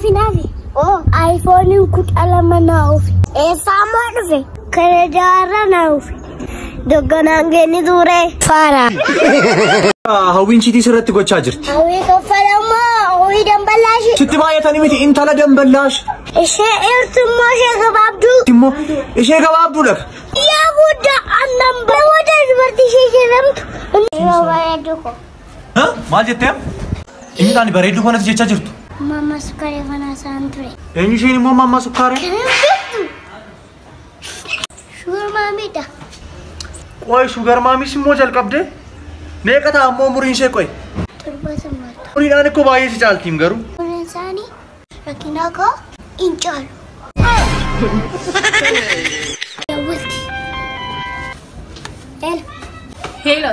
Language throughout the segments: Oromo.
Finaafi. Oo aayifooniin kudha lama naa ofi. Eessaa moo dhufe? Kana jaarra naa ofi. Dogganaan geenni ture. Faara. Hawwiin chiitii sirratti gochaa jirti. Hawwii koffalammoo hawwii damballaashii. Sitti baay'atanii miti intala damballaash. Ishee eertummoo ishee gabaabduu. Immoo ishee gabaabduudha. Yaa guddaa annan baroota dubartii ishee jedhamtu. Yeroo baay'ee duuko. Maal jettee? Inni taani bareedduu kanatti jechaa jirtu. Mamma sukkaaree fanaa saan ture. Eenyu isheen immoo mamma sukkaaree? Kan hojjettu. Shugar maamiidha. Qoy shugar maamis immoo jalqabdee? Meeqa ta'a ammoo umuriin ishee qoy? Torba sammaata. Umuriidhaan ikkoo baay'ee si caaltiim garuu. Umuriin isaanii rakkinaa koo hin caalu. Dawwalti. Hello. Hello.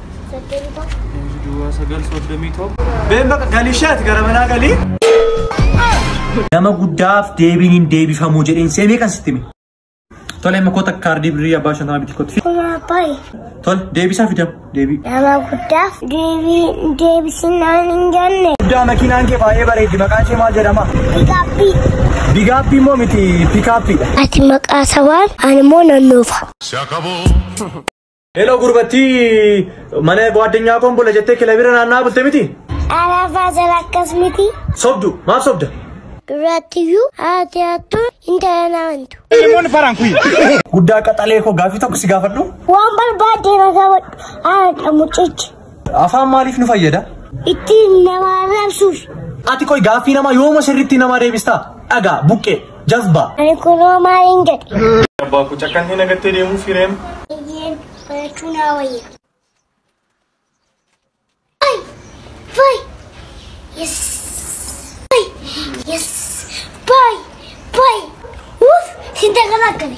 Soddomii tokko. Inji duwwaa sagal soddomii tokko. Been bakka galii isheeti gara manaa galii. Nama guddaaf deebiin hin deebifamuu jedheen seemee kan sitti hime. Tole amma koota kaardii birrii abbaa shantama bitti kotti. Kuma abbaayi. Tole deebisaa fidam deebii. Nama guddaaf deebii deebisinaan hin jenne. Guddaa makiinaan kee baay'ee bareeddi maqaan ishee maal jedhama? Gaabbii. Bigaappii immoo miti pikaappiidha. Ati maqaa sabaan ani immoo nan nuufa. Se acabó. Heloo gurbattii mana gwaaddanyaa koon bula jettee kilabira naannaa bulte miti? Alaafaa jala akkas miti. Sobdu maaf sobda? Durattiyyuu haati hattuun intala na amantu. Guddaa qaxalee koo gaaffii tokko si gaafadhu. Waan barbaadde na gaafadhu. Haadha mucichi. Afaan maaliif nu fayyada? Ittiin nama arrabsuuf. Ati qoy gaaffii namaa yooma sirriitti namaa deebistaa? Dhagaa, buqqee, jazbaa. Ani kunoo maaliin jedhe. Abbaa koo cakkan hin agattee deemuu fireem. Eeyyeen barachuu naa wayya. Fay! Fay! Yes! Fay! Yes! Fay! Fay! Uff! Sinta kana akkami?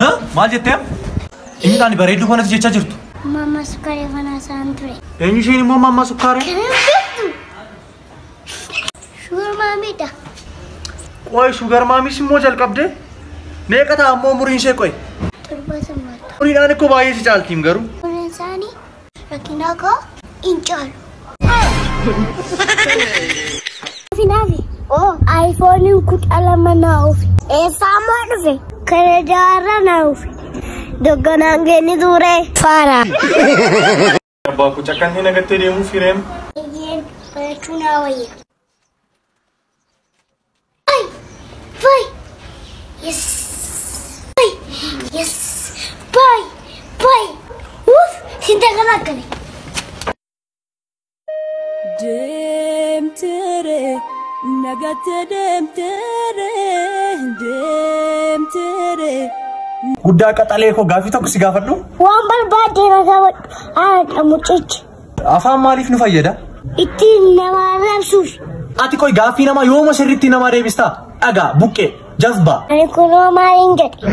Hah? Maal jettee? Inni taani bareedduu kanatti jechaa jirtu. Mama sukari fana saan ture. Eenyu isheen immoo mamma sukkaaree? Kana beektu. Shugar maamiidha. Qoy shugar maamis immoo jalqabdee? Meeqa ta'a ammoo umuriin ishee qoy? Torba summaadha. Umuriidhaan ikkoo baay'ee si caaltiim garuu. Umuriin isaanii Rakkinaa koo hin caalu. Finaafi. Oo. Ayifooniin kudha lama naa ofi. Eessaa moo dhufe? Kana jaarra naa ofi. Dogganaan geenni ture. Faara. Abbaa koo cakkan hin agattee deemuu fireem. Eeyyeen barachuu naa wayya. Deemtere nagatte deemtere deemtere. Guddaa qaxalee koo gaaffii tokko si gaafadhu. Waan barbaadde na gaafadhu. Haadha mucichi. Afaan maaliif nu fayyada? Ittiin nama arrabsuuf. Ati qoy gaaffii namaa yooma sirriitti namaa deebistaa? Dhagaa, buqqee, jazbaa. Ani kunoo maaliin jedhe.